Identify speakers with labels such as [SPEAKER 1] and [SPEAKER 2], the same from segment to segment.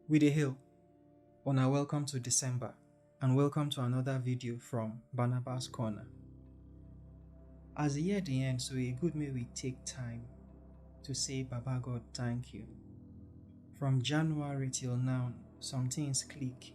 [SPEAKER 1] We dey hail. Una welcome to December and welcome to another video from Barnabas Corner. As the year dey end, so e good make we take time to say Baba God thank you. From January till now, some things click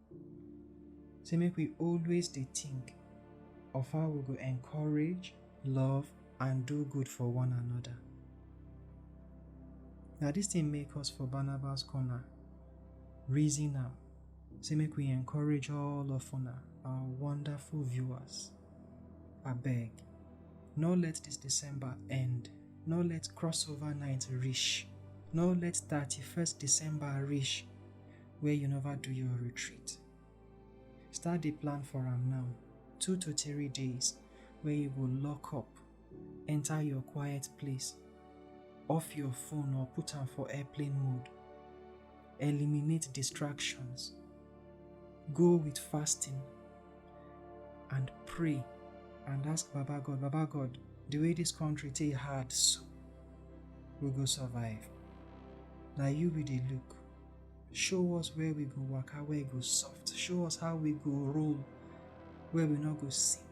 [SPEAKER 1] Say make we always dey think of how we go encourage, love and do good for one another. Na dis thing make us for Barnabas Corner reason am say make we encourage all of una, our wonderful viewers. Abeg, no let dis December end, no let crossover night reach, no let thirty first December reach where you never do your retreat. Start the plan for am now, two to three days where you go lock up, enter your quiet place, off your phone or put am for airplane mode, eliminate distractions, go with fasting and pray and ask Baba God, Baba God, the way this country take hard so, we go survive. Now you be the look. show us where we go waka where e go soft show us how we go roll where we no go sin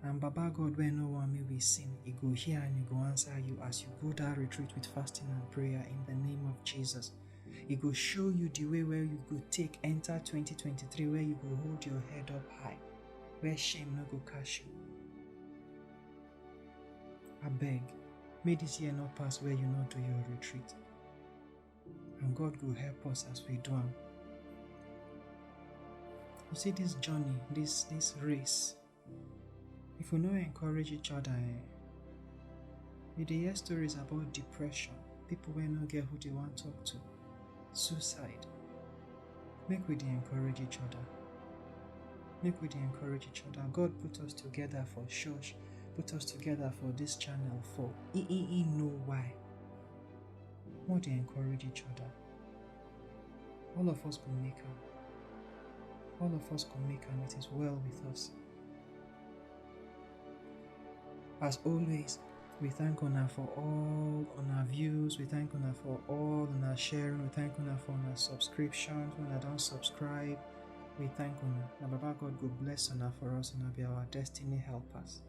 [SPEAKER 1] and baba god wey no wan make we sin e go hear and e go answer you as you go that retreat with fasting and prayer in the name of jesus e go show you the way where you go take enter 2023 where you go hold your head up high where shame no go catch you abeg make this year no pass where you no do your retreat And God will help us as we do am. You see this journey, this this race, if we no encourage each other, eh, we dey hear stories about depression, people wey no get who they want to talk to, suicide. Make we dey encourage each other. Make we dey encourage each other. God put us together for church, put us together for this channel for e e e know why. More they encourage each other. All of us go make am. All of us go make am. It is well with us. As always, we thank Una for all on our views. We thank Una for all on our sharing. We thank Una for our subscriptions. When I don't subscribe, we thank Una. Now, Baba God, go bless Una for us and be our destiny helpers.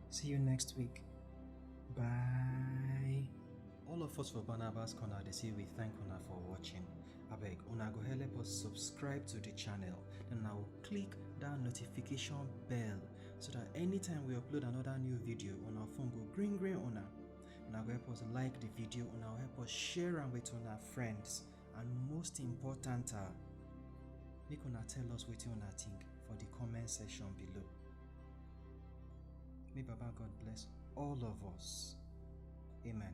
[SPEAKER 1] See you next week. Bye. All of us for Barnabas Corner they say we thank una for watching. Abeg, una go help us subscribe to the channel and now click that notification bell so that anytime we upload another new video on our phone go green green una. Una go help us like the video, una go help us share am with una friends. and most important ah make una tell us wetin una think for the comment section below may baba god bless all of us amen